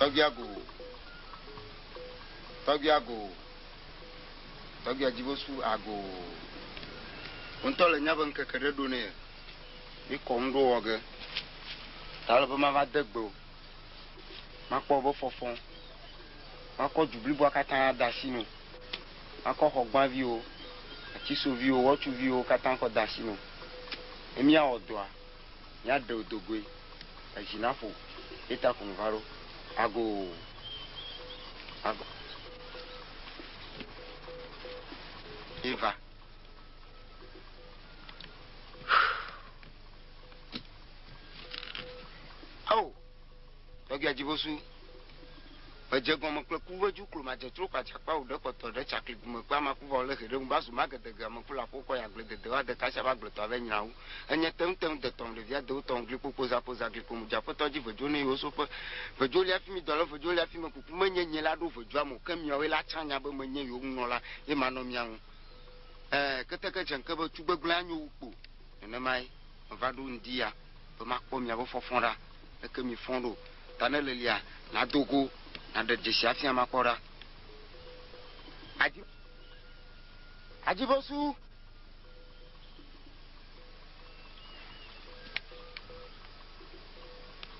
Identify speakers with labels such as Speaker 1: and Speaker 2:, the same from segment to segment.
Speaker 1: tɔgbia go tɔgbia go tɔgbia dzibosu ago ŋutɔ le nyabe ŋkeke ɖe ɖo nɛ Mi kɔ ŋɖo wɔ ge, ta le be ma va de gbe o, ma kpɔ wobe fɔfɔ, ma kɔ du bliboa katã de asi no, ma kɔ xɔ gbã viwo, ati so viwo, wɔtsu viwo katã kɔ de asi no, ne mi awɔ dɔa, mi a ɖeo do goe, edzi na ƒo, ye ta ko mi va ɖo. Agoo. Agoo. Ye va. Ao, tɔgbia dzibosu, edze gɔme kple ku veju klo ma dzetro kwa dzakpa o ɖe kɔtɔ ɖe tsakli gume kpe ama kuva ole heɖe ŋu ba zuma gede ge ame kula ko kɔ ya gble dede wa deka sia ba gble tɔ ave nyina wu enye teŋ teŋ de tɔm ɖe via dewo tɔm gli kpokpo za po za gli kpomu dza petɔ dzi vejo ne yiwo soƒe vejo lia fimi dɔ le vejo lia fimi kuku menye nye la ɖo vejua mo ke miawo la tsã nya be menye yiwo ŋunɔla ye manɔ mia ŋu Ɛɛ, keteke dze ŋke be tugbegblẽ anyo wu kpo. Nenemae meva ɖo ŋdi ya be makpɔ miabe fɔfɔ ɖa. Leke miefɔ ɖo? Ta ne lelia, nàdo go, nàɖe dzesi afia makpɔ ɖa. Adzi, adzi be su.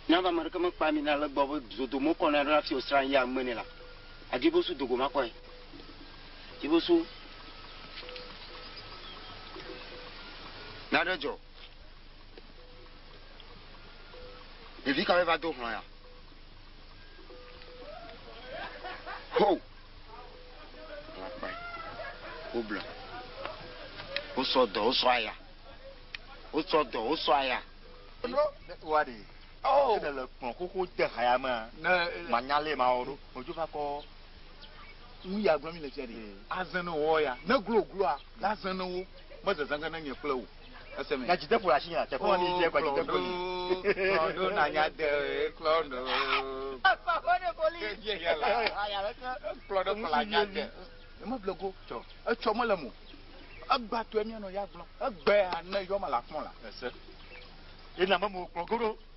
Speaker 1: Nyabe ame ɖeke mekpea mi na le gbɔ be zodo mokɔ na ɖo hafi wòsrã yea nume nɛ la, adzi be su do go makpɔe. Dziƒosu. Nane dzɔ. Ɖevi kawoe va do hlɔ̃ ya? Ho! Lakpae. Woblɔ. Wosɔ dɔ, wosɔ aya. Wosɔ dɔ, wosɔ aya.
Speaker 2: Wa ɖe. Oh! Ne le kplɔ xoxo de ha ya mea, ne manya lɛ ma wɔ ɖo. Odzo va kɔ. Ŋu ya gblɔm mile fia ɖi. Azẽ ne wòwɔ ya, ne glo wògloa, azẽ ne wo, mezezã ge ne nye kple wò. Èse me? Nya dzi deƒo le asinye a? Teƒe ma mi dze kɔ dzi deƒo li. Klɔn ɖo na nya de e klɔn ɖo. Akpa kɔ ɖe kɔ li. Ke vie ya la. Aya ɖe ke. Klɔn ɖo kɔ la nya de. Eme ble go. Tsɔ. Etsɔ mele mo. Egba tɔe mia nɔ ya gblɔ. Egbe a ne yɔ ma la kpɔn la. Èse? Ye na me mo klɔn go ɖo.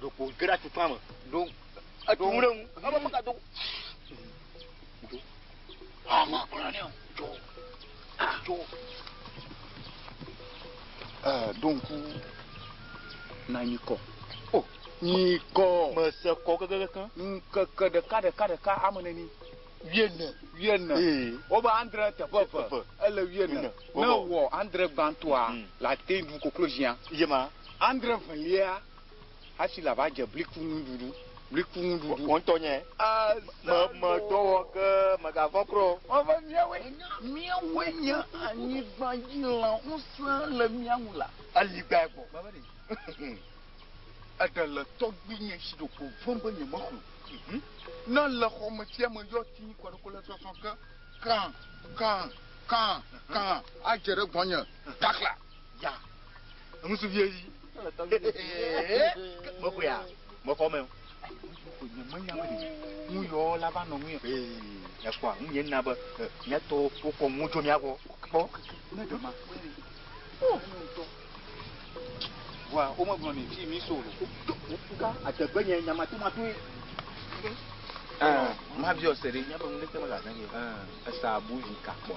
Speaker 2: ɖo kpo ge ɖe atukpa me ɖo etu ŋu ɖe ŋu ebe meka do do ama kura ne dzo dzo ɛɛ ɖo ŋku na nyikɔ o nyikɔ mese kɔ
Speaker 3: kekekekeŋ ŋkeke ɖeka
Speaker 2: ɖeka ɖeka ame neni wiene wiene wobe andre teƒe eve ele wiene ne wɔ andre gbãtɔa hmm. la te ɖu koklo zia yema Andre
Speaker 3: evelia
Speaker 2: hasi la va dze bliku nuɖuɖu, bliku nuɖuɖu. Wò
Speaker 3: ŋutɔ nye. Azalo. Me, me dɔ wɔ ke megavɔ̃ kura o. Wɔ be míawoe,
Speaker 2: míawoe nye anyigba dzi lã, ŋusẽ le mía ŋu la. Eli gbae gbɔ. Gbe
Speaker 3: be ɖe.
Speaker 2: Eɖe le tɔgbuinye si ɖeko vem be nyemexlõ. Ne le xɔ me tsia me yɔ ti kɔ ɖe kole sɔsɔ ke, kã, kã, kã, kã, adze ɖe gbɔnye, kakla. Ya. Enu su
Speaker 3: vie yi.
Speaker 2: Mo ko ya. Mo fɔ me. Ko nye me nya me. Nu yɔ la va nɔ mu. Ya ko a, nye na be nya to ko ko mu jo mia ko. Ko. Ne dema. Oh, no to. Wa, o mo gblɔ ni fi mi so. Ka ategbe nye nya ma to ma to. Ah, ma viɔ sere. Nya be mu de te ma la ne. Ah, esa bu vi ka ko.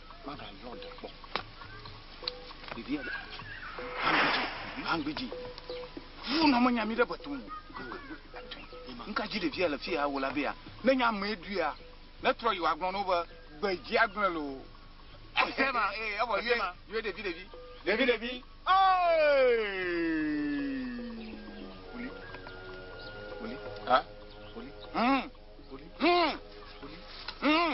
Speaker 2: Magayɔ ɖe kpɔ. Ɖevi ya. Angbidzi. Vu nɔ menya mi ɖe betu. Nka dzi ɖevi ya le fi ya wo la be ya. Ne nya me du ya. Ne trɔ yi wa gblɔ no be gbedzi agblɔ lo. Ese ma eh abo ye ma. Ye ɖevi ɖevi. Ɖevi ɖevi.
Speaker 3: Oli. Oli. Ha?
Speaker 2: Oli. Hmm.
Speaker 3: Oli. Hmm. Oli. Hmm.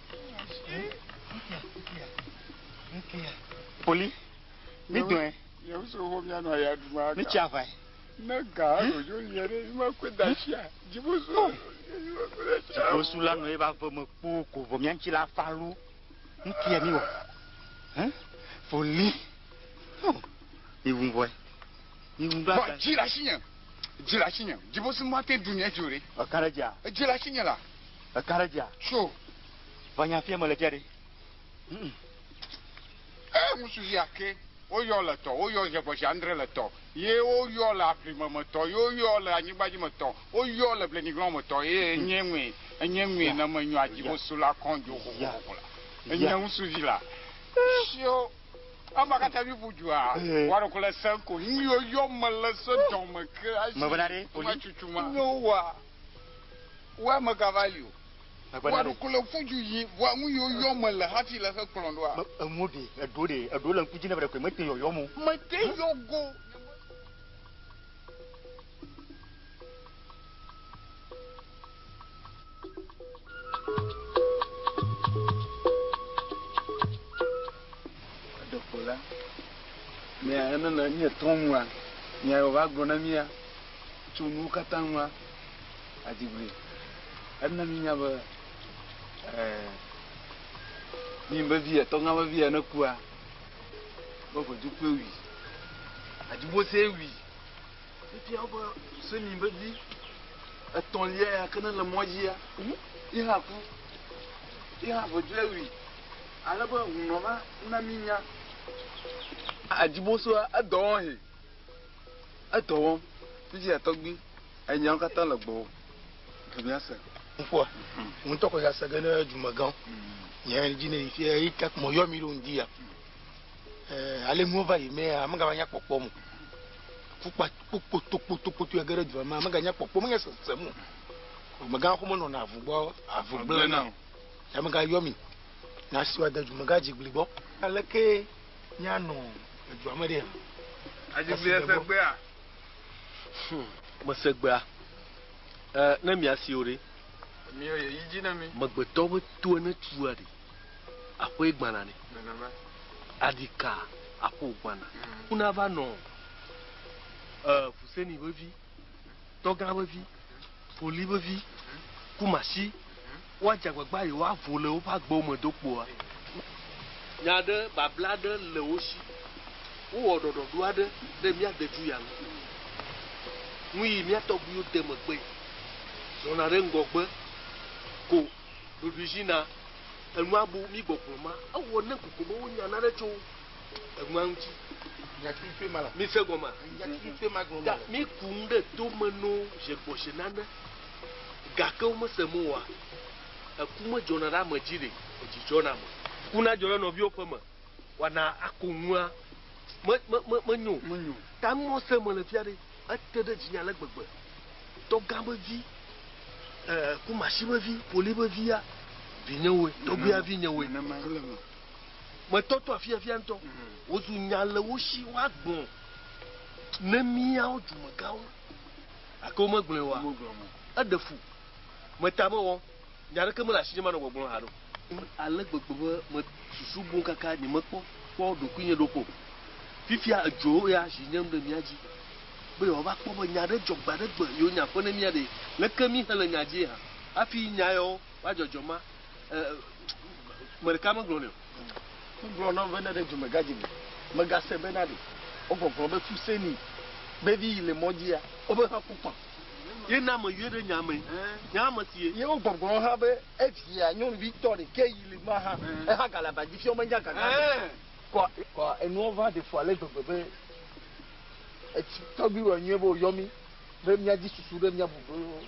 Speaker 2: Poli, mi dɔɛ. Yewu so ho mia
Speaker 1: nɔ ya duma. Mi tsia vai.
Speaker 2: Ne ga
Speaker 1: rojo lia ɖe ima kwe da tsia. Dzibo so. Oh.
Speaker 2: Dzibo so la nɔ ye ba ve me kpo ko vɔ mia ŋtsi la fa lu. Ŋkia mi wɔ. Hein? Poli. Oh. Mi wu vɔɛ. Mi wu ba. Vɔ dzi la si nye.
Speaker 1: Dzi la si nye. Dzibo so ma te dunia dzi o ɖe. Ɔkan ɖe dzi a. Dzi la
Speaker 2: si nye la.
Speaker 1: Eka ɖe dzia? Tso. Va nya fia
Speaker 2: mele fia ɖe.
Speaker 1: E ŋusu yi ake woyɔ le tɔ, woyɔ zhegɔshi andre le tɔ, ye woyɔ le aƒlime me tɔ, ye woyɔ le anyigbadzi me tɔ, woyɔ le blenyiglɔn me tɔ, ye enye ŋue, enye ŋue ne menyɔ adzibosu la kɔn dzo xoxoxoxo la. Enye ŋusu vi la. Shio. Ema katã vi ƒu dzua, wa ɖoko le sẽŋ ko. Ŋuyoyɔ mele se dɔme ke ashi. Mevena ɖe, Oli. Ŋuatsutsu
Speaker 2: ma. Nyo wa.
Speaker 1: Ŋua megava li o. Ŋua ɖo kole ƒu dzu yí ŋua nu yiwo yɔm mele hafi le xe kplɔm ɖoa? Me, enuwo ɖe, eɖewo ɖe,
Speaker 2: eɖewo le ŋku dzi nɛ vɔ ɖe koe mete yɔyɔm o. Mete yɔ go
Speaker 1: nye me. Eɖeko la, mía, ne le míetɔ nua, mía yɔ va gblɔ na mía. Tso nuwo katã ŋua, adi gli. Ena míenya be mí vevi etɔgã vevi ene kua, be ʋedu kpe wui. Adi Mose wui. Efia wo be se mí vevi etɔ̃lia ya ke ne le mɔ dzia, yi hã ku. Yi hã ʋedua wui. Ale be hunɔ va na míenya. Adi Mose edɔ wɔhɛ. Edɔ wɔm. Fiji ya tɔgbi enyawo katã le gbɔwò. Dzo mía se. Ŋkpɔa,
Speaker 4: ŋutɔ kɔ ya sege ne dumegãwo nya dzi ne yi fia yi tak mɔ yɔ mi ɖo ŋdi ya. Eh, ale nuwo va yi mea, ame gava nya kpɔkpɔ mo. Kukpa kpokpo tokpo tokpo tu ege ɖe dua me, ame ga nya kpɔkpɔ mo nya sese mo. Dumegã xo me nɔ na avu gbɔ, avu gblẽ na. Ame ga yɔ mi na siwa de dumegã dzigbli gbɔ. Aleke Míanɔ edua me ɖe hã. Adi be
Speaker 1: miase egbea? Hum,
Speaker 5: mese egbea. E, ne miasee o ɖe? Emiɔ ye
Speaker 1: yi dzi na mi. Megbetɔ be toa
Speaker 5: ne tua ɖe, aƒee gbana nɛ. Nenema. Aɖi ka, aƒe wògbana. Ŋu nava nɔ e, ŋusẽnii vevi. Tɔgã ƒe vi, Koli ƒe vi, Kumasi, woadze agbagba eye woavo le woƒe agbewo me do kpoa? Nya aɖe, babla aɖe le wo si. Wowɔ ɖɔɖɔɖo aɖe ɖe mía dedu ya ŋu. Nuyi mía tɔgbuiwo de megbee zɔna ɖe ŋgɔgbe ko ɖoɖoe zi na enua bu mí gbɔgblɔ ma. Ewɔ ne kokoko be wonya nane tso enua ŋuti. Nyakpikpe
Speaker 4: ma la. Mi se gɔma. Nyakpikpe
Speaker 5: ma gɔma.
Speaker 4: Ga mi ku ŋu ɖe
Speaker 5: to me no je gbɔshe nane. Gake wo me se mo wa. Eku me dzɔna ɖe ame dzi ɖe edzi dzɔna me. Ku na dzɔ ɖe nɔviwo ƒe me wa na ako ŋua me me me me nyo. Me nyo. Ta nu mɔ se me le fia ɖe ete ɖe dzi nye ale gbegbe. Tɔ gã be vi. Eh, ku mashi be vi, poli be vi ya. Vi nye woe. Tɔgbuia vi nye woe. Nene ma. Metɔtɔ afiafia ŋutɔ. Wòzu nya le wo si woagbɔ ne míawo dumegãwo. Gake womegblɔe oa? Eɖe fu. Meta be wɔ. Nya aɖeke mele asinye manɔ gbɔgblɔm haɖe o. Ale gbegbe be mesusu boŋ kaka nyemekpɔ kpɔ ɖokuinye ɖo kpɔ o. Fifia edzɔ wo ya zi nyem ɖe mía dzi be yewoava kpɔ be nya aɖe dzɔ gbe aɖe gbe yewo nya ƒe ne mía ɖee. Leke mí hele nya dzie hã hafi nya yawo woadzɔdzɔ ma? me ɖeka megblɔ nɛ o. Wogblɔ na be ne ɖe
Speaker 4: dumegadzi me megase be na ɖe wogɔgblɔ be Fuseni be vi yi le mɔ dzia wobe hã ku kpã. Ye na me yɔe
Speaker 5: ɖe nya me. Nya me si ye. Ye wogɔgblɔ hã be
Speaker 4: evia nyɔnuvi tɔ ɖekɛ yi le ma hã eha gale aba dzi fiɔ menya gaga ɖe kɔ. Kɔ enuɔ va ɖe fu ale gbegbe be etsi tɔgbi wɔ nyuie be woyɔ mi be mia dzi susu ɖe mia bu be.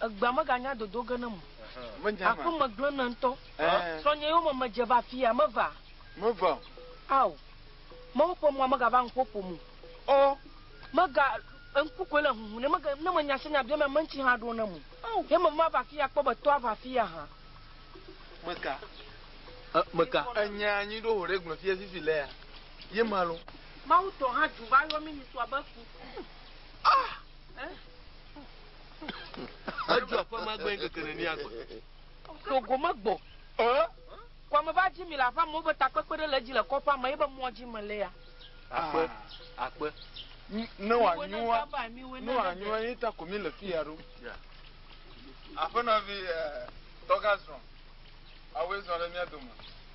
Speaker 2: Egbea meganya
Speaker 6: dodo ge nem o. Menyam a. Aƒe me
Speaker 2: gblẽ nam ŋutɔ.
Speaker 6: Ɛɛ. Srɔ̃nye yome medze va afia, meva. Meva o.
Speaker 2: Ao.
Speaker 6: Mawu ƒe mɔa megava nuƒo ƒom o. Ɔ.
Speaker 2: Mega,
Speaker 6: ŋku koe le huhum ne mege, ne menya se nya biam ame ŋuti hã ɖo nam o. Ao. Ye meva mava afia akpɔ be tɔa va afia hã. Meka.
Speaker 5: Ɛ, meka. Enya anyi
Speaker 2: ɖo hoɖe gblɔ fia fifi lea, ye ma lo. Mawu tɔ hã dzu
Speaker 6: va yɔ mi nyitɔ abe ku. Ah! Ɛ.
Speaker 5: Edzo aƒe ma gbee ŋkeke nenia gbe. Tso gome
Speaker 6: gbɔ. Kwame va dzi mi le aƒea me wobe takpekpe ɖe le edzi le kɔƒea me ebe mɔ dzi me lea. Akpe,
Speaker 5: akpe.
Speaker 2: Ne wòanyua, ne wòanyua ye ta ko mi le fi ya ɖo. Aƒenɔvi Tɔgazrɔn, awɔe zɔ ɖe mía dome.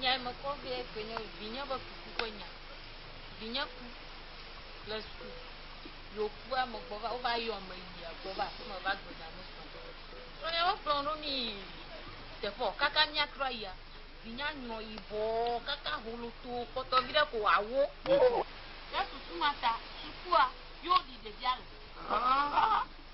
Speaker 7: nya me kɔ be ke nye vinye be kuku ƒe nya vinye ku le suku yokua me gbɔ va wova yɔ me yi agbɔ va aƒeme va gbe nya me sɔ kplɔnya wokplɔ ɖo mi teƒe kaka miatrɔ yia vinya nyrɔ yibɔ kaka holoto kpɔtɔ vi ɖe ko awo ne susu ma ta sukua yóò ɖi ɖevia le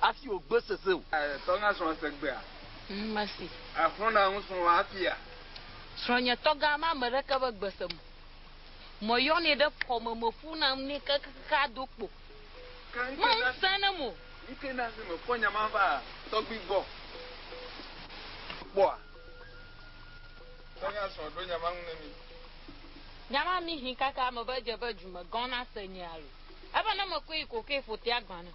Speaker 4: Hafi wògbe sese o. Tɔ gã srɔ̃ se gbea?
Speaker 2: Mesi.
Speaker 7: Exlɔna nu srɔ̃
Speaker 2: hafia? Srɔ̃nye
Speaker 7: tɔ gã ma ame ɖeke be gbe sem o. Meyɔnɛ ɖe kɔme, meƒuna nu nɛ kekekeake ado kpo. Mese enem o. Nu kae na esi mekpɔ
Speaker 2: nya ma va tɔgbui gbɔ kpɔa? Tɔ gã srɔ̃ ɖo nya ma ŋu ne mí. Nya
Speaker 7: ma mí hĩ kaka mebe edze be dzu me gã nase nye alo. Ebe ne mekɔe yi ko ke ƒotea gbã nam.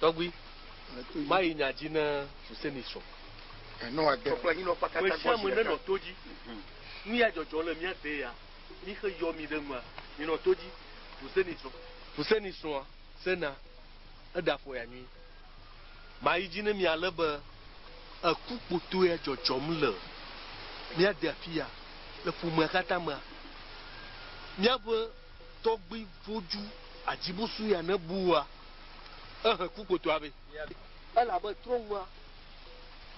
Speaker 5: Tɔgbui, mayi nya dzi ne Huseni srɔ̃. Mesiame nenɔ to dzi. Nu ya dzɔdzɔ le mía dee ya, míxe yɔ mi ɖe nua. Minɔ to dzi. Huseni srɔ̃. Huseni srɔ̃a, Sena, eɖe afɔ ya nyuie. Mayi dzi ne mi ale be eku kpotɔe ya dzɔdzɔm le mía de afi ya, le ƒomea katã mea. Míaƒe. Tɔgbi voju adzibusu ya ne bu wua, ehe ku kpotoa be. Elabe trɔ ŋua,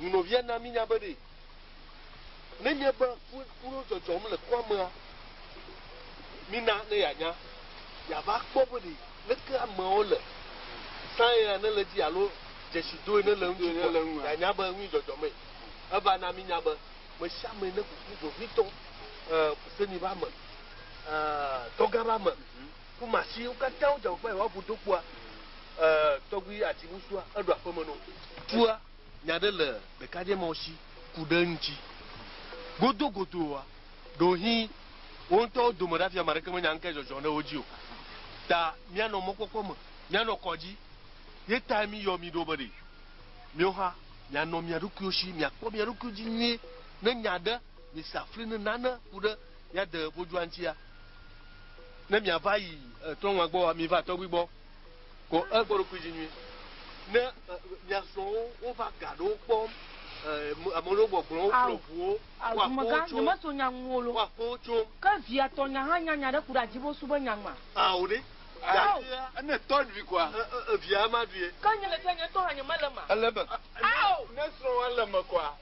Speaker 5: nunɔvia na mi nya be ɖe ne nye be ku kuɖo dzɔdzɔm le kua mea, mi na ne ya nya, ya va kpɔ be ɖe leke ameawo le sãe ya ne le dzi alo dzesi doe ne le ŋtsi kua, ya nya be ŋui dzɔdzɔ mee. Eva na mi nya be, mesiame ne kuku vevitɔ, e, se mi be ame. tɔgã ba me ku masi wo katã wo dzawo kpa wa bu do kpua tɔgbi ati bu sua eɖo aƒe me no tua nya ɖe le ɖeka dze ma wo si ku ɖe ŋtsi godo godo wa ɖo hi wo ŋtɔ wo dome ɖa fia ma ɖeke me nya ŋke zɔzɔ ɖe wo dzi o ta mia nɔ mɔkpɔkpɔ me mia nɔ kɔdzi ye ta mi yɔ mi ɖo be ɖe mio ha mia nɔ mia ɖokuiwo si mia kpɔ mia ɖokuiwo dzi nyuie ne nya ɖe Misa fli ne nane ku ɖe mía de vodua ŋutia. Ne miava yi trɔ̃ŋua gbɔa, miva tɔgbui gbɔ ko e kpɔ ɖokui dzi nyuie. Ne mia srɔ̃wo wova ga ɖewo kpɔm, ame ɖewo gbɔgblɔm, wo kplɔ ʋuwo, wo akpɔ wo tsom, wo akpɔ wo tsom. Ke via tɔ nya
Speaker 6: hã nya nya ɖe ku ɖe adzibo su be nya ŋma. Ao ɖe.
Speaker 5: Gakea ne
Speaker 2: tɔ ɖui kɔa, via ma ɖuie.
Speaker 5: Ke nye ɖe fia nye ŋutɔ hã
Speaker 6: nye me le ema. Ele eme. Ao.
Speaker 2: Ne srɔ̃ wa le eme kɔa.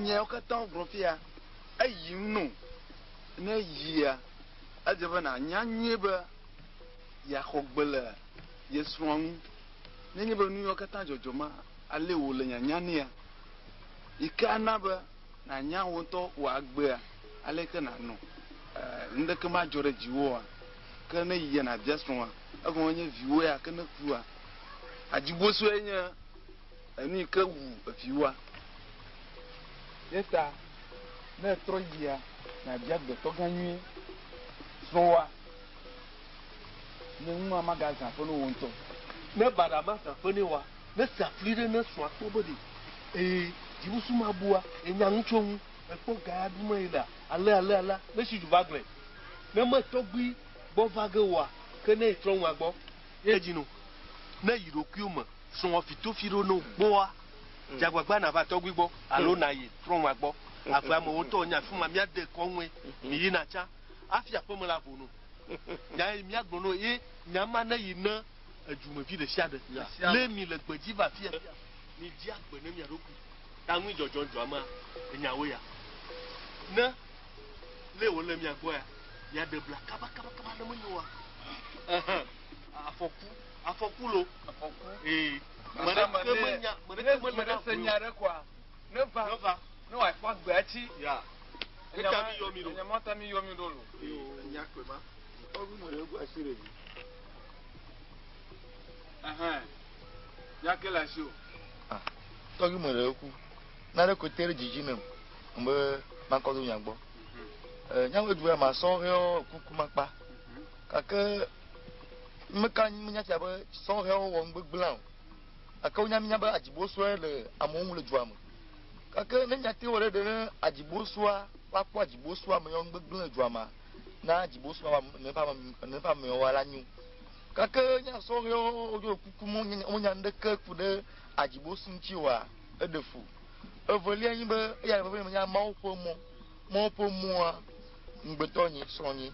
Speaker 2: Nyawo katã wogblɔ fia eyim no. Ne eyia, edze be nànya nyuie be yeaxɔ gbe le ye srɔ̃a ŋu. Nenye be nuyawo katã dzɔdzɔ ma alé wò le nyanya nɛa, yi ke ana be nànya wò ŋutɔ wò agbea, aleke nànɔ nuɖeke madzɔ ɖe dziwòa? Ke ne yi yena bia srɔ̃a, egɔme nye viwò ya ke ne kua? Hadzibosɔe nye enu yi ke wu viwòa. Eyata ne ètrɔ yia, nàbia agbetɔgã nyuie, srɔ̃wòa, ne nua magazã aƒe ne wò ŋutɔ. Ne baɖa
Speaker 5: mazã aƒe ne wòa, ne sea fli ɖe ne srɔ̃a kpɔ be ɖe eye dzibusu mabua ye nya nu tso eŋu, ekpɔ ga ya ɖum eye lea. Ale ale alea ne si ju va gblɔe, ne me tɔgbui gbɔ va ge oa, ke ne yi trɔ ŋua gbɔ. Ye edzi nu ne yi ɖokuiwo me srɔ̃ fitofi ɖo no gbɔa, dze agbagba nava tɔgbui gbɔ alo na yi trɔ ŋua gbɔ. Ave amewo ŋutɔ nye afi ma mía de kɔ ŋue mi yi na tsã afi aƒe me la vo no. Nya yi mía gblɔ no ye nya ma ne yi ne edu me vi ɖe sia ɖe. Le mi le gbedzi va afi afi mi dzi agbe ne mia ɖokui. Ta nui dzɔdzɔ dzɔ amea enya wo ya. Ne le wo le mia gbɔ ya, ya de bla kaba kaba kaba ne menyo wa. Ehe. Afɔku, afɔku lo. Afɔku. Ee. Mada me ne, ne me ne se nya ɖe kɔa,
Speaker 2: ne va, ne va, ne wa kpɔ agbe atsi. Ya.
Speaker 5: Enya ma, enya ma ta mi yɔ mi ɖo lo.
Speaker 2: Enya kwe ma.
Speaker 3: Ɔgu mo le gu asi le mi. Ehe.
Speaker 2: Nya ke le asi o. Ah, tɔgbi
Speaker 4: me ɖe ku. Na ɖe kote ɖe dzidzi nem. Mbe makɔ do nya gbɔ. Eh, nya me du ya ma sɔ heo kuku makpa. Kake me ka me nya tia be sɔ heo wɔ ngbe gbla o. Ake wo nya mi nya be ajibo sɔe le amewo ŋu le dua me. Kake ne nya te wɔ ɖe ɖe ne ajibo sɔa va kpɔ ajibo sɔa me yɔ ngbe gbla dua ma. Na ajibo sɔa ne pa ne pa me yɔ wa la nyu. Gake mía sɔhɛwo ɖo kuku mɔ wonya nuɖeke ku ɖe adzibosu ŋuti oa? Eɖe fu. Evelia nyi be eya ɖe vevie menya Mawu ƒe mɔ. Mawu ƒe mɔa ŋugbetɔ nye srɔ̃nye.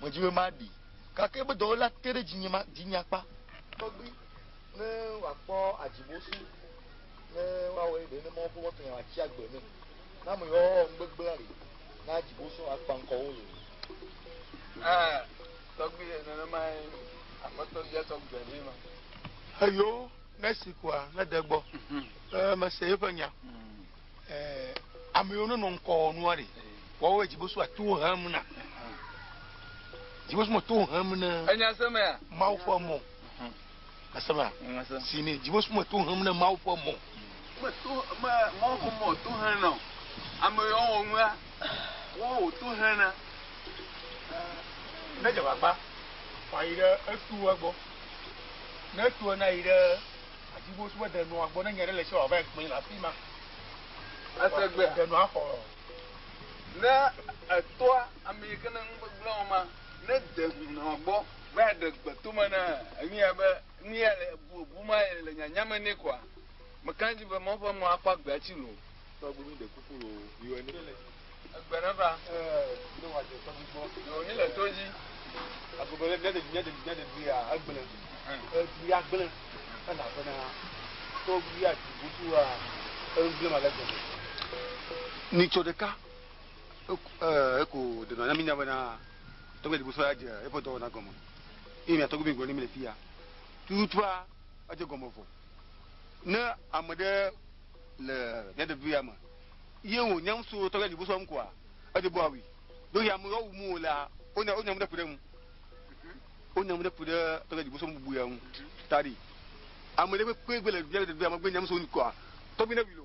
Speaker 4: Medi be maɖee. Gake ebe dɔwɔlea te ɖe dzinye ma, dinye akpa tɔgbi ne wòakpɔ adzibosu ne woawɔe ɖe ne Mawu ƒe mɔ tɔnye wòatsi agbe nɛ. Ne ame yɔɔ ŋugbegblẽa ɖe na adzibosu akpa ŋkɔ wo ye.
Speaker 2: Tɔgbi ye nenemae aƒetɔ bia
Speaker 4: tɔgbi be ɖee ma. Eyo ne si kua ne de gbɔ. Ee mhm. mese eƒe nya. Mhm. Ee ame yiwo nenɔ ŋkɔ nua ɖe wɔwɔ dzibosu ato hem na. Dzibosu me to hem na. Enya se mea. Mawu
Speaker 2: fɔ mɔ.
Speaker 4: Asema. Si ne dziwo sume to hem ne Mawu ƒe mɔ. Me to me
Speaker 2: Mawu ƒe mɔ to hem na o. Ame yawo wɔ nua wɔn wò to hem na. Ne
Speaker 4: dze gbagba fa yi ɖe etu egbɔ. Ne etu ena yi ɖe adziwo sume de nua gbɔ ne nya ɖe le si wòava ekpɔe le afi ma. Ese
Speaker 3: gbe. De nua xɔ. Ne etoa ame yi ke ne ŋugbegblẽ wɔma ne de nua gbɔ. Be aɖe gbe tome na enu ya be nu ya le bu bu ma ye le nyanya me nɛ koa? Meka edzi be Mawu ƒe mɔ akpɔ agbea tsi lo. Tɔgbi mi ɖe kuku
Speaker 2: lo yi wɔ ne. Egbe ne va.
Speaker 3: Ne wa dze
Speaker 2: tɔgbi gbɔ. Yo mi le to dzi.
Speaker 3: Agogo le
Speaker 2: nyade nyade nyade bi ya agble. Ebi ya gble. Ena fe na. Tɔgbi ya ti butu wa. Egble ma le gbe. Ni tso ɖeka. Eko ɖe na mi nya be na. Tɔgbe Dibu sɔya dze eƒe dɔwɔna gɔme eye mia tɔgbe mi gblɔ ne mi le fiya. Tututua edze gɔme vɔ. Ne ame ɖe le mia ɖevi ya me ye wo nyam so tɔgbe Dibu sɔ ŋkua edze bo awi. Do ya mu yɔ mu la o nya o nya mu ɖe ku ɖe mu. O nya mu ɖe ku ɖe tɔgbe Dibu sɔ mu bu ya mu. Tari. Ame ɖe kpe kpe gbe le mia ɖevi ya me gbe nyam so ŋkua tɔgbe ne wi lo.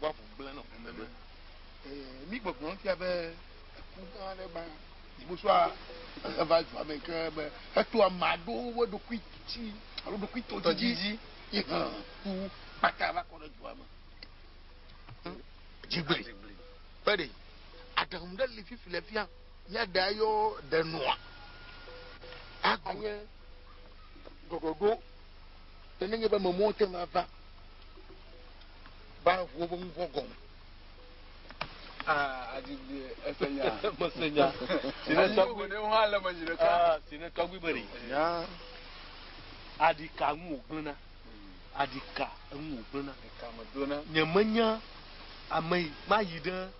Speaker 4: ʋua ʋu gblẽ nɔ ʋu meme. Ee, mí gbɔgblɔ fia be eku gã aɖe gba dzibosoa eva dua me ke be eto ame aɖewo wo ɖokui tsi alo ɖokui to dzidzi yi hã ku kpata va kɔ ɖe dua me. Dzigbe. Fede. Aɖaŋu ɖe li fifi le fia. Ya ɖe ayɔ ɖe nua. Aganye ɖɔɖɔɖo. Nenye be memowo te ŋu ava. Ba ŋuwo be ŋuvɔ gɔme. Ah,
Speaker 3: adigbe ese nya. Mese nya.
Speaker 5: Si ne tɔgbi
Speaker 3: ne ho ale me zi ɖeka. Ah, si ne tɔgbi be ri.
Speaker 5: Ya. Adika ŋu wogblena. Adika ŋu wogblena. Adika me dona.
Speaker 3: Nye menya
Speaker 5: ame yi ma yi ɖe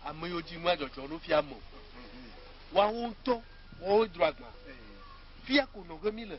Speaker 5: ame yiwo dzi nua dzɔdzɔ ɖo fia me. Woawo ŋutɔ woawo dro agba. Fia ko nɔge mi le.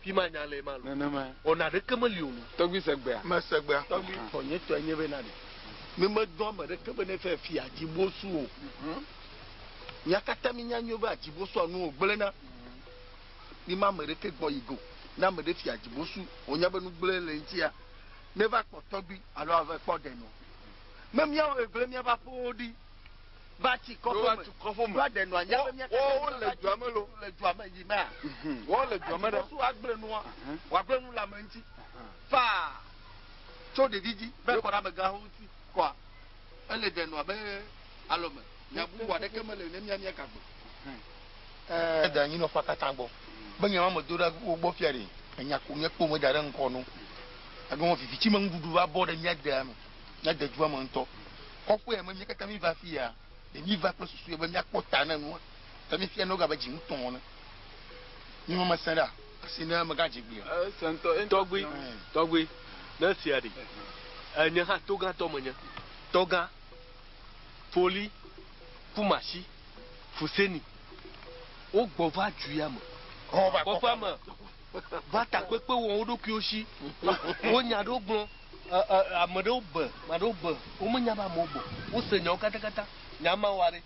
Speaker 5: Fi ma nya lee ma lo. Nenema. Ɔ naɖeke
Speaker 3: meli o lo.
Speaker 5: Tɔgbi se gbea? Me
Speaker 3: se gbea. Tɔgbi
Speaker 4: tɔ nye tɔe
Speaker 5: nye be na ɖe. Mi me dɔ ame ɖeke be ne fɛ fi adzibosu o. Mia kata mi nya nyuie be adzibosua nu wo gble na. Mi ma ame ɖeke gbɔ yi go. Ne ame ɖe fi adzibosu wo nya be nu gble le eŋtia, ne va kpɔ tɔgbi alo ave kpɔ ɖe nɔ. Me mia wo gble mia va ƒewo ɖi. va tsi kɔƒe me, va ɖe nua nya be míate ŋu ava tsi nu
Speaker 3: le dua me yi mea?
Speaker 5: Esi
Speaker 3: Yesu agblẽ nua,
Speaker 5: wòagblẽ nu le ame ŋuti faa tso ɖevi dzi va yi kɔ ɖe amegãwo ŋuti kɔa? Ele ɖe nua be alɔ me. Nya bubu aɖeke mele ne mía míeka gbe o.
Speaker 4: Ede anyinɔƒea katã gbɔ be nya ma medo ɖe wo gbɔ fia ɖe. Enya ko míekpɔ meda ɖe ŋkɔ na wo. Egɔme viviti me nuɖuɖu va bɔ ɖe mía dea me. Nya de dua me ŋutɔ. Kɔƒea me mía katã míeva afi ya, ɖe míeva kple susue be míakpɔ ta na nua? Ke míefia noga be dzi ŋutɔ wɔna mí me mesẽ ɖe asi ne megadzẽ gbeea? Esẽ ŋutɔ. Tɔgbui,
Speaker 3: tɔgbui,
Speaker 5: ne sia ɖi nye hã togãtɔ menye. Tɔgã, Foli, Kumasi, Fuseni, wogbɔ va duya me, kɔƒea me, va takpekpe wɔm wo ɖokuiwo si. Wonya ɖewo gblɔ. Ɛ, ɛ, ame ɖewo be, ame aɖewo be womenya be amewo gbɔ. Wose nyawo katakata. Nya ma wa ɖe,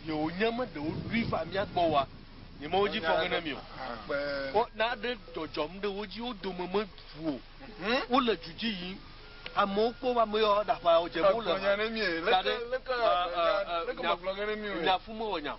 Speaker 5: yewonye me ɖe woɖoe va mía gbɔ oa, nyemawo dzi fɔŋe na mi o. Wo, naɖe dzɔdzɔm ɖe wo dzi, wo dome meʋu o. Wole du dzi yim. Amewo kpɔ woƒe ame yawo aɖaƒã, wodze abe wole ha ɖe, ɛ, ɛ, ɛ,
Speaker 3: nya, nya fu mewɔ nya o.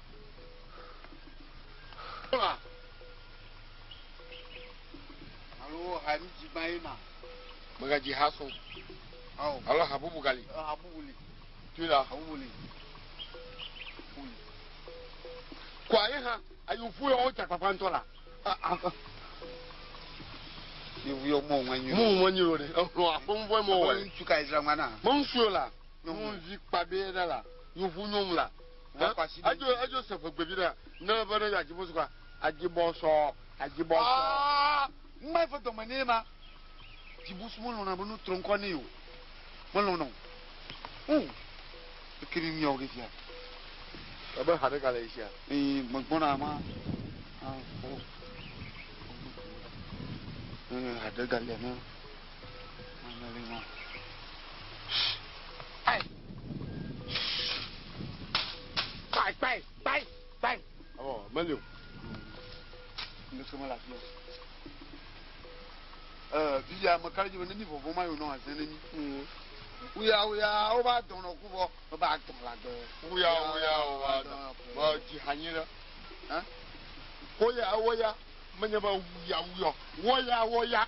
Speaker 1: Magaji haso. Alo habubu gali. Habubu li. Tu la. Habubu li. Kɔ ayi hã ayi fu yɔ wotsa kpakpa ŋutɔ la. Yevu yɔ mɔ ŋa nyi. Mɔ ŋa nyi o de. Ehlɔ aƒe ŋu fɔ mɔ wɔ. Ŋutsu ka ezra ŋa na. Mɔ ŋutsu yɔ la. Nyɔnuvi kpa bɛ ɖe la. Yevu nyɔnu la. Ɛ? Adzo adzo se ƒegbe vi ɖa. Ne be ne ya dzi bosukwa. Adzi bɔsɔ. Adzi bɔsɔ. Aa numa eƒe dɔme nɛ ma. Dzibusu melɔna be nu trɔ ŋkɔ nɛ o. Melɔna o. O. Eke ni nuyawo ke sia. Ebe ha ɖe ga le sia. Ee megbɔna ma. Ah o. Ee ha ɖe ga le ne. Mele ma. Kpai, kpai, kpai, kpai. Ɔ, meli o. Ŋdeke mele afi o. Ɛɛ, fifia ame ka ɖe dzi be ne mí vɔvɔ̃ ma yewonɔ azẽ ne mí. Huya, huya, wova dɔ̃ nɔ ku vɔ. Meva dɔ̃ le agbe. Huya, huya, wova dɔ̃. Vɔ dzi ha nyuiɖe. Hã? Woya, woya. Menye be wuya, wuya o. Woya, woya.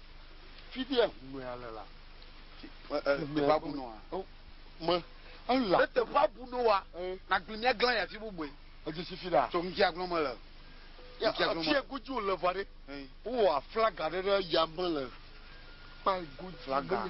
Speaker 1: Fifia ŋumea le la. Teƒea bu nɔa. Me ela. Ne teƒea bu nɔa. Nàgblẽ mía glã yi afi bubue. Edze si fi ɖa. Tso ŋkea glɔm mele. Afia godzi wòle vɔ ɖe. Wowɔ aflaga ɖe ɖe yame le kpea godzi. Flaga.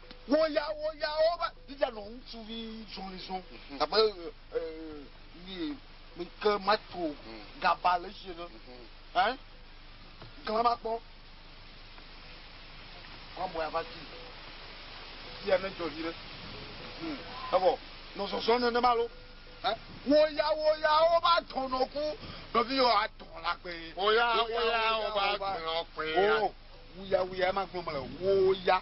Speaker 2: Wo ya wo ya wo va Biblia nɔ ŋutsuvi zɔlizɔ abe yi mi ke mato gaba le esi ene ɛn gla ma kpɔ wa bɔ ya va ti ya ne jɔ yi ɖe evɔ nɔ zɔzɔ ne ne ma lo ɛn wo ya wo ya wo va tɔ nɔ ku nɔ vi yɔ atɔ la kpe wo ya wo ya wo va tɔ nɔ kpe ya wo ya wo ya ma gbɔ mele wo ya.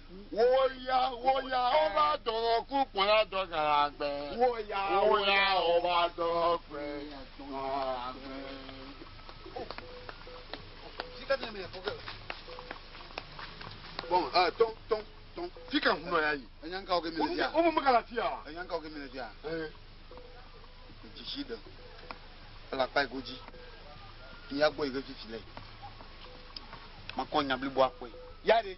Speaker 2: Wò ya, wò ya ɔva dɔnɔ ku kpɔna dɔ galagbe. Wò ya, wò ya ɔva dɔnɔ kpe dɔnagbe. Sika ne me fɔge. Bon, ah, ton, ton, ton. Sika hu nɔ ya yi. Enya nka oge mi le fia. Wo mo me kana fia. Enya nka oge mi le fia. Eh. Jisi de. Ala kpa igoji. Ni ya gbɔ igoji fi le. Makɔ nya blibo akpɔ. Ya de.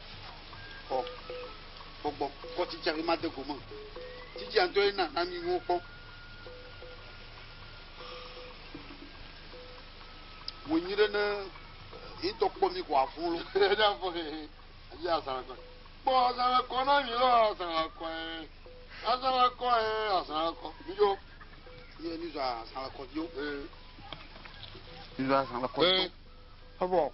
Speaker 2: Xɔ gbɔgbɔ kpɔ tsitsia be made gome o. Tsitsia ŋutɔe na na mí nuwo kpɔ. Wò nyi ɖe ne yetɔ kpɔ mí ko afɔn lo. Eɖe afɔ he he. Eyi azãla kɔ. Kpɔ azãla kɔ na mí lɔ azãla kɔ he. Azãla kɔ he azãla kɔ. Mí dzo. Yɛ mí zɔ azãla kɔ dzo. Mí zɔ azãla kɔ dzo. Ebo.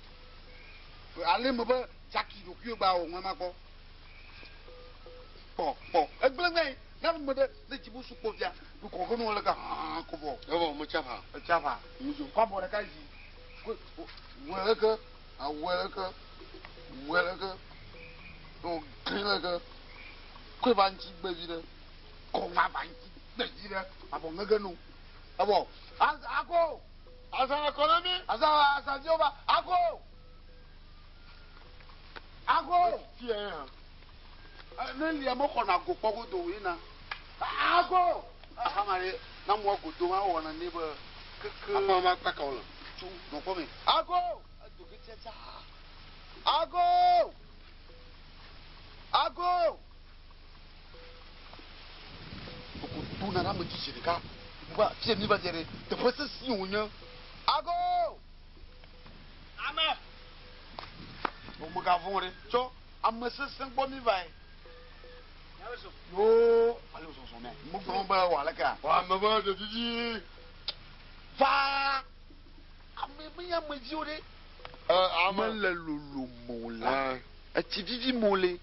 Speaker 3: Ale me be Jackie ɖokuiwo gba wò ŋlama gbɔ. Kpɔ kpɔ egblẽ gbɛ na me ɖe ne dzibu su kpɔ via du kɔ ko nuwo le ka hã ko vɔ. Evɔ me tsa va. Etsa
Speaker 2: va. Muzo.
Speaker 3: Kɔ abɔ ɖeka dzi. Ko wɔ le ke awɔ le ke wɔ le ke no gli le ke ko va ŋtsi gbɛ vi ɖe kɔ va va ŋtsi gbɛ vi ɖe abɔ ŋege no. Evɔ a a ko. Azã le kɔ
Speaker 2: na mí. Azã le azã viwo va.
Speaker 3: Ago!
Speaker 2: Ago! Fia ye hã.
Speaker 3: Ne lia mo xɔ na go kpɔ godo wo yina. Ago! Aha ma ye na mo godo ma wɔ na ne be keke. Ama ma kpaka wo le.
Speaker 2: Tsu nɔ kpɔ me.
Speaker 3: Ago! Edo ke tia tsa. Ago! Ago! Ɖokuto nana ame tsitsi ɖeka bua afi sia míva dze ɖe teƒe sesẽe wònye. Ago! Ame! O megavɔ̃ ɖe tsɔ ame sesẽ gbɔ mívae. Yoo, ale wòzɔzɔ nɛ. Megblɔ be wɔ alekea? Wɔ ame be ɖe didi.
Speaker 2: Va!
Speaker 3: Ame menye ame dzi o ɖe. Ame le lolo mo la, etsi didi mo le.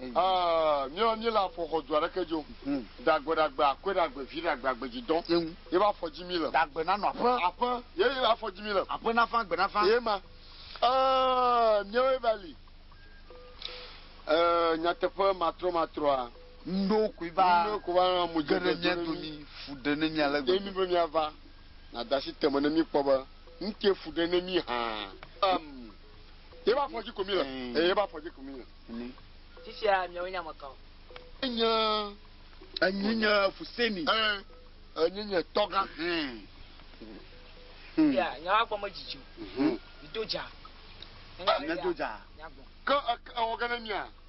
Speaker 2: míawo míele afɔxɔ du aɖeke dzi o hmm. ɖagbe ɖagbe akɔe ɖagbe vi ɖagbe agbedzi dɔn ye ƒe afɔ dzi mi le ɖagbe nanɔ aƒe
Speaker 3: aƒe ye ƒe
Speaker 2: afɔ dzi mi le aƒe nafa agbe nafa ye
Speaker 3: ma
Speaker 2: míawo va li nyateƒe matrɔ matrɔa ŋɖo koe va
Speaker 3: ŋɖo koe va mu dze ɖe
Speaker 2: mia domi
Speaker 3: fu ɖe ne mia le gbɔ emi be mia va.
Speaker 2: nàde asi te me ne míekpɔ be nu te fu ɖe na mí hã. Yeƒe afɔ dzi ko míle. Eye yeƒe afɔ dzi ko míle. Fifia miawo
Speaker 6: nye ame kawo? Enye,
Speaker 3: enye nye fuseni. Enye
Speaker 2: nye tɔgã. Fia,
Speaker 6: nyawo agbɔ medzidzi o. Mido dza.
Speaker 3: Míado dza.
Speaker 6: Ke ewɔ ge na
Speaker 2: mía?